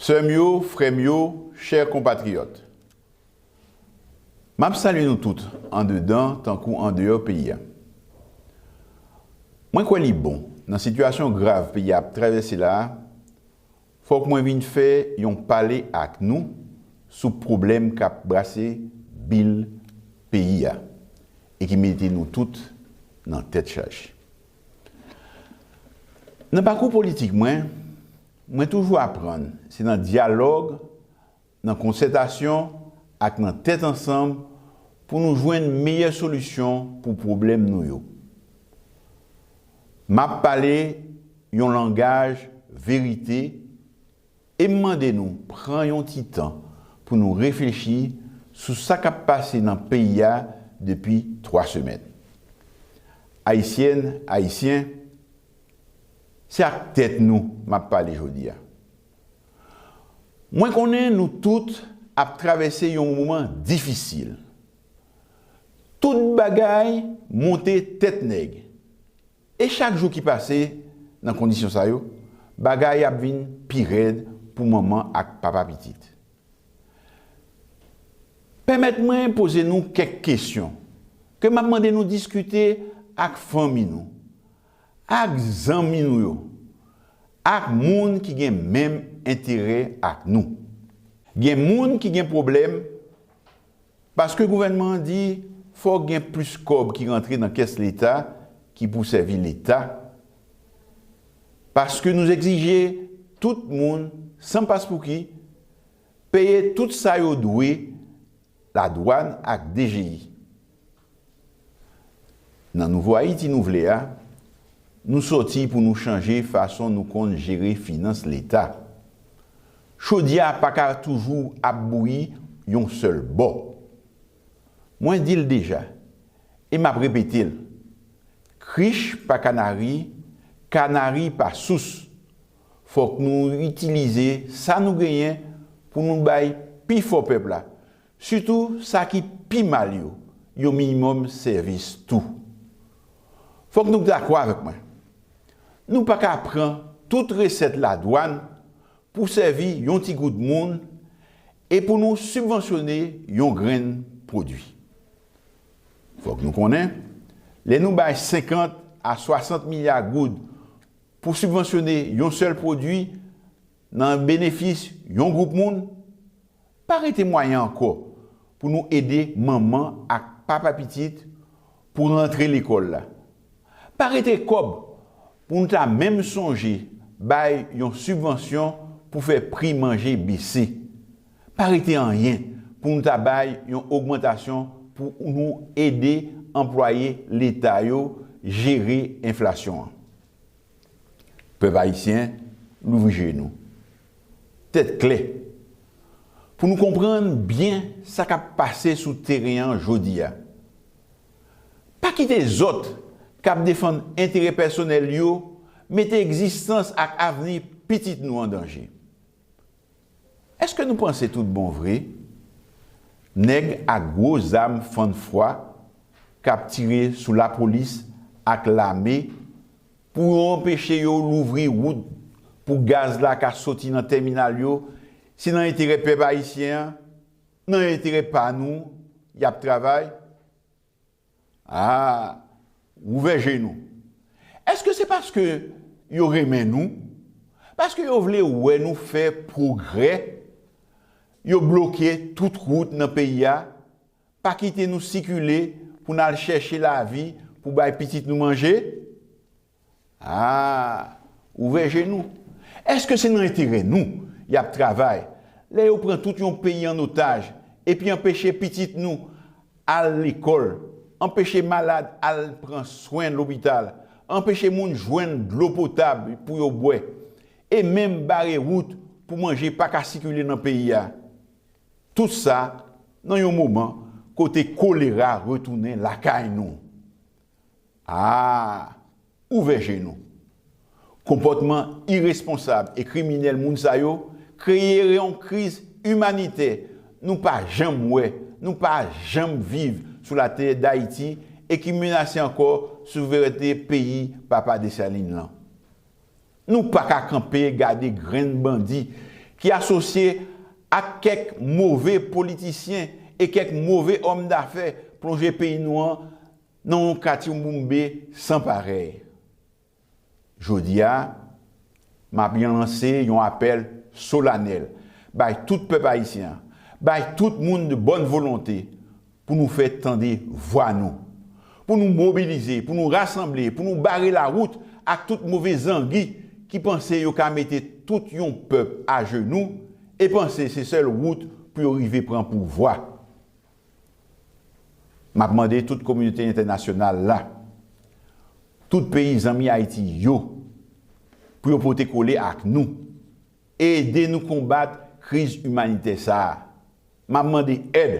Sè m yo, frè m yo, chè konpatriyòt, m ap salye nou tout andedan tankou andeyò peyi a. Mwen kwè li bon, nan sitiyasyon grav peyi a ap travèse la a, Fòk mwen vin fè yon pale ak nou sou pwoblèm kap brase bil peyi a e ki mete nou tout nan tèt chaje. Nan pakou politik mwen, mwen toujou aprann se nan dyalòg nan konsètasyon ak nan tèt ansanm pou nou jwenn meyè solisyon pou pwoblèm nou yo. M ap pale yon langaj verite e m mande nou pran yon ti tan pou nou reflechi sou sa k ap pase nan peyi a depi 3 semèn. Ayisyèn, Ayisyen, se ak tèt nou m ap pale jodi a. Mwen konnen nou tout ap travèse yon moman difisil. Tout bagay monte tèt nèg. E chak jou ki pase nan kondisyon sa yo, bagay ap vin pi rèd pou manman ak papa pitit. Pèmèt mwen poze nou kèk kesyon, ke m ap mande nou diskite ak fanmi nou. ak zanmi nou yo, ak moun ki gen menm enterè ak nou. Gen moun ki gen pwoblèm paske gouvènman an di fòk gen plis kòb ki rantre nan kès leta ki pou sèvi leta, paske nou egzije tout moun san paspouki peye tout sa yo dwe ladwàn ak dgi. Nan nouvo Ayiti nou vle a, nou sòti pou nou chanje fason nou konn jere finans leta. Chodyè a pa ka toujou ap bouyi yon sèl bò. Mwen di l deja e m ap repete l, krich pa kanari, kanari pa sous. Fòk nou itilize sa nou genyen pou nou bay pi fò pèp la Sitou sa ki pi mal yo, yon minimòm sèvis tou. Fòk nou dakò avèk mwen, nou pa ka pran tout resèt ladwàn pou sèvi yon ti gwoup moun e pou nou sibvansyone yon grenn pwodui. Fòk nou konnen, lè nou bay 50 a 60 milya goud pou sibvansyone yon sèl pwodui nan benefis yon gwoup moun, Pa rete mwayen ankò pou nou ede manman ak papa pitit pou rantre lekòl la. Pa rete kòb pou nou ta menm sonje bay yon sibvansyon pou fè pri manje bese. Pa rete anyen pou nou ta bay yon ogmantasyon pou nou ede anplwaye leta yo jere enflasyon an. Pèp ayisyen, louvri je nou. Tèt klè, pou nou konprann byen sa k ap pase sou teren an jodi a. Pa kite zòt k ap defann enterè pèsonèl yo mete egzistans ak avni pitit nou an danje. Èske nou panse tout bon vre nèg ak gwo zam fann fwa k ap tire sou lapolis ak lame Pou yo anpeche yo louvri wout pou gaz la ka soti nan tèminal yo, se nan enterè pèp ayisyen an, nan enterè pa nou y ap travay? Aa, ouvè je nou. Èske se paske yo renmen nou, paske yo vle wè nou fè pwogrè, yo bloke tout wout nan peyi a, Pa kite nou sikile pou n al chèche lavi pou bay pitit nou manje? A! Ouvè je nou! Èske se nan enterè nou y ap travay lè yo pran tout yon peyi an otaj epi anpeche pitit nou al lekòl, anpeche malad al pran swen lopital, anpeche moun jwenn dlo potab pou yo bwè, e menm bare wout pou manje pa ka sikile nan peyi a? Tout sa nan yon moman kote kolera retounen lakay nou. A Ouvè je nou! Konpòtman iresponsab e kriminèl moun sa yo kreye yon kriz imanitè nou pa janm wè, nou pa janm viv sou latè Dayiti e ki menase ankò souverènte peyi Papa Dessalines lan. Nou paka kanpe gade grenn bandi ki asosye ak kèk move politisyen e kèk move òm dafè plonje peyi nou an nan yon katyoumoumbe san parèy. Jodi a, m ap yon lanse yon apèl solanèl bay tout pèp ayisyen an, bay tout moun de bòn volonte Pou nou fè tande vwa nou. Pou nou mobilize, pou nou rasanble, pou nou bare lawout ak tout move zangi ki panse yo ka mete tout yon pèp ajenou e panse se sèl wout pou yo rive pran pouvwa. M ap mande tout kominote entènasyonal la, tout peyi zanmi Ayiti yo, pou yo pote kole ak nou. Ede nou konbat kriz imanitè sa a. M ap mande èd,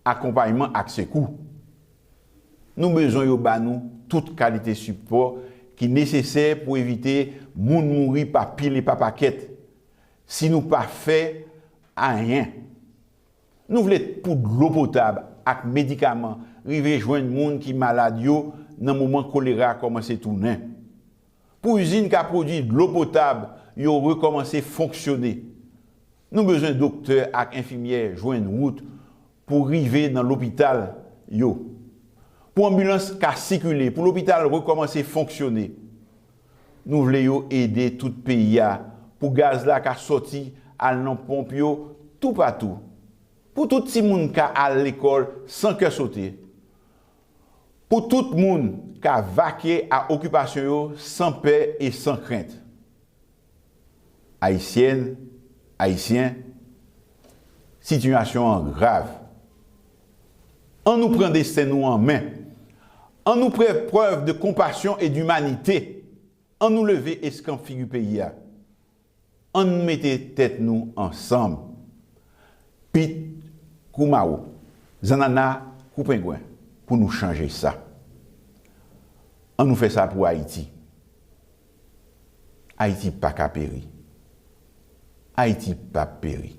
akonpayman ak sekou. Nou bezwen yo ba nou tout kalite sipò ki nesesè pou evite moun mouri pa pil e pa pakèt, si nou pa fè anyen. Nou vle pou dlo potab ak medikaman rive jwenn moun ki malad yo nan moman kolera kòmanse tounen. Pou izin ka pwodui dlo potab yo rekòmanse fonksyone, nou bezwen doktè ak enfimyè jwenn wout pou rive nan lopital yo, pou anbilans ka sikile, pou lopital rekòmanse fonksyone. Nou vle yo ede tout peyi a pou gaz la ka sòti al nan ponp yo toupatou, pou tout timoun ka al lekòl san kè sote, Pou tout moun ka vakye a okipasyon yo san pè e san krent. Ayisyèn, Ayisyen, sitiyasyon an grav. An nou pran desten nou an men. An nou fè prèv de konpasyon e dimanite. An nou leve eskanp figi peyi a. Ann mete tèt nou ansanm. Pit kou mawo, zannana kou pengwen pou nou chanje sa. An nou fè sa pou Ayiti. Ayiti pa ka peri. Ayiti p ap peri.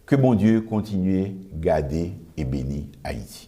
Ke Bondye kontinye gade e beni Ayiti.